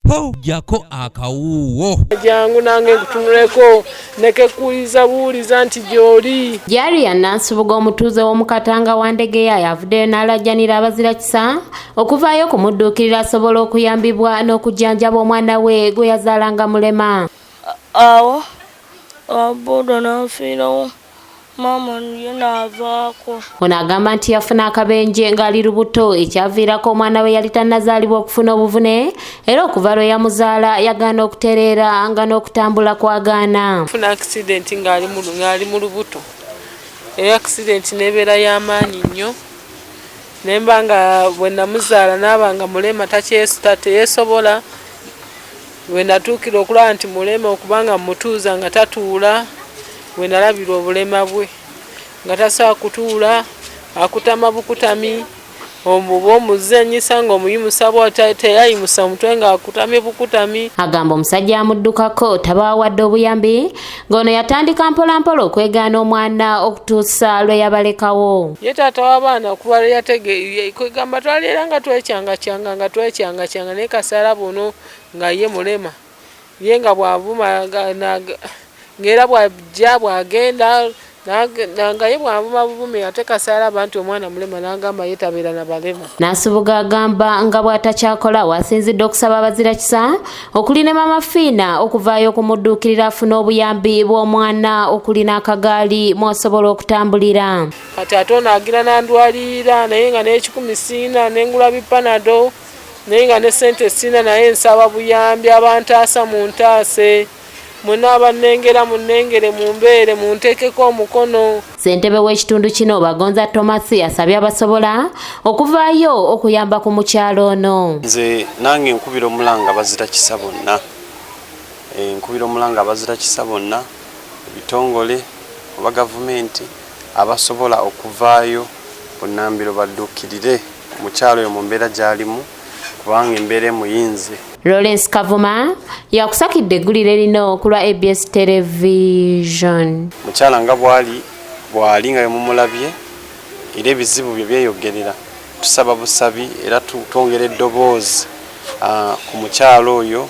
po jako akawuuwo jangu nange nkutunuleko nekekuuliza buuliza nti gyoli jariya nansubuga omutuuze w'omukatanga wa ndegeya yavuddeyo n'alajjanira abazira kisa okuvaayo okumudduukirira asobola okuyambibwa n'okujjanjaba omwana we gwe yazaalanga mulema awo ababuudo nanfiirawo ah, Mormon ye n'avaako. Ono agamba nti yafuna akabenje ng'ali lubuto ekyaviirako omwana we yali tannazaalibwa okufuna obuvune era okuva lwe yamuzaala yagaana okutereera nga n'okutambula kwagaana. Funa akisidenti ng'ali mu lubuto era akisidenti n'ebeera y'amaanyi nnyo ne mba nga bwe namuzaala n'aba nga mulema teyeesobola. We natuukira okulaba nti mulema okubanga mmutuuza nga tatuula, we nalabira obulema bwe nga tasobola kutuula, akutama bukutami omuba omuzanyisa ng'omuyimusa bw'ata teyayimusa omutwe ng'akutamye bukutami. Agamba omusajja amuddukako tabaawadde obuyambi ng'ono yatandika mpolampola okwegaana omwana okutuusa lwe yabalekawo. Ye taata w'abaana kuba lwe yategeeye kwegamba twali era nga twecyangacyanga nga twecyangacyanga naye kasaala buno Nga ye mulema. Ye nga bw'avuma ng'era bw'ajja bw'agenda nga ye bw'avuma buvumi ate Kasaala aba nti omwana mulema n'agamba ye tabeera na balema. Nasubuga agamba nga bw'atakyakola w'asinzidde okusaba abazirakisa okuli ne Maama Fiina okuvaayo okumudduukirira afune obuyambi bw'omwana okuli n'akagaali mw'asobola okutambulira. Kati ate ono agira n'andwalirira naye nga n'ekikumi sirina ne ngula bipanado. naye nga ne sente sina naye nsaba buyambi abantaasa muntaase mwena abanengera munengere mumbeere muntekeko omukono ssentebe w'ekitundu kino bagonza thomas asabye abasobola okuvaayo okuyamba ku mukyalo ono nze nange nkubira omulanga bazira kisa bonna eh, nkubira omulanga bazira kisa bonna ebitongole oba gavumenti abasobola okuvaayo bunnambiro badduukirire omukyala oyo mu mbeera gy'alimu kubanga embeera emuyinze. Lawrence Kavuma yakusakidde eggulire lino ku lwa ABS Television. Mukyala nga bwali bwali nga bemumulabye era ebizibu bye byeyogerera tusaba busabi era twongera eddoboozi ah, ku mukyala oyo